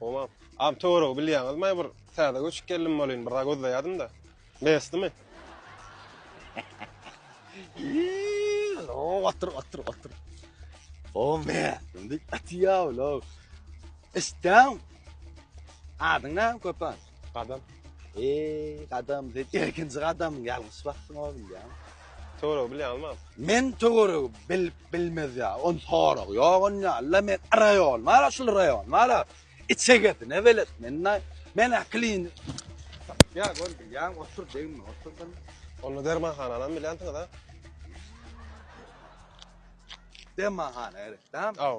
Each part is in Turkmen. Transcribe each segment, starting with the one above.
Oma, am töweregi bilýäňizmi, bir täze göçüp geldim welin, bir zat gözleýädim-de. Mesdimi? Iioo, otur, otur, otur. O mesdim, dik atýa ulaw. Isdäň. Adyň näme köpän? Gadam. Eee gadam sen ilkinji gadamyň ýalňyş basyň oglum ýa. Töweregi bilýärmi? Men töweregi bilip bilmez ýa. On sorag ýok on ýaly men raýon bar şul raýon bar. Içegesine belet men men aklyn. Ýa gol bilýän otur degme oturdym. Onda dermanhananam bilýänsiňiz ha? Dermanhana gerek dämi? Aw.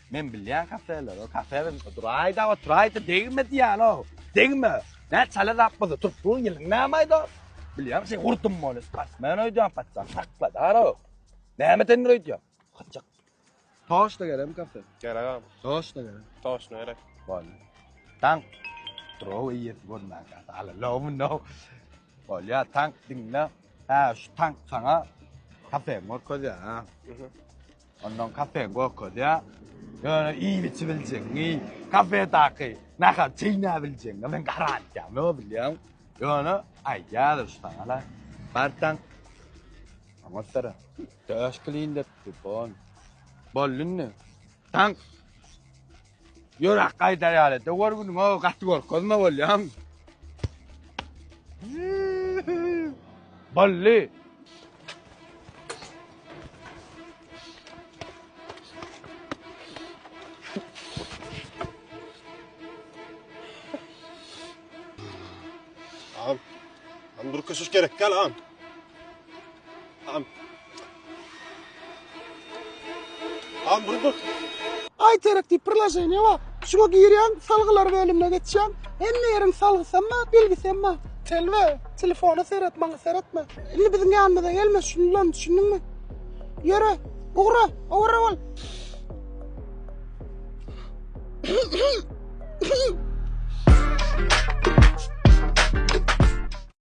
Men bilýän kafeleri, kafeler duraýda, oturaýda degme diýýäno. Degme. Nä çala zap bolsa, turpluň ýylyň nämeýdi? Bilýän, sen gurdum bolýar. Pasman öýdýän patsa, sakla daro. Näme sen öýdýän? Gaçak. Toş da gerem kafe. Gerek abi. Toş da gerek. Toş ne gerek? Bolýar. Tank. Trow iýip görmän kafe. Ala lowun no. Bolýar, tank diňle. Ha, şu tank sana kafe görkezýär, ha. Onnoň kafe gokodýar. Ýöne iýip-içip biljekmi? Kafedaky nahary çeýnäp biljekmi? Men garantýa ýok bilýäň. Ýöne aýdýarlar şu taňala. Barsaň, oňatsara. Döş kylyn depdi, bon. Boldy indi. Taň. Ýöräk gaýdar ýaly. Döwer günüň o gaty görkezme bolýaň. Bolly. Am. Am durkuşuş gerek gel am. Am. Am burduk. Interaktiv priloženiýe bar. Şuňa girýäň, salgylar bölümine geçýäň. Hemme ýeriň salgysam bar, bilgisem bar. Telwe, telefona seret, maňa seretme. Indi biziň ýanymyza gelme, düşündiňmi, düşündiňmi? Ýöre, ugra, owara bol.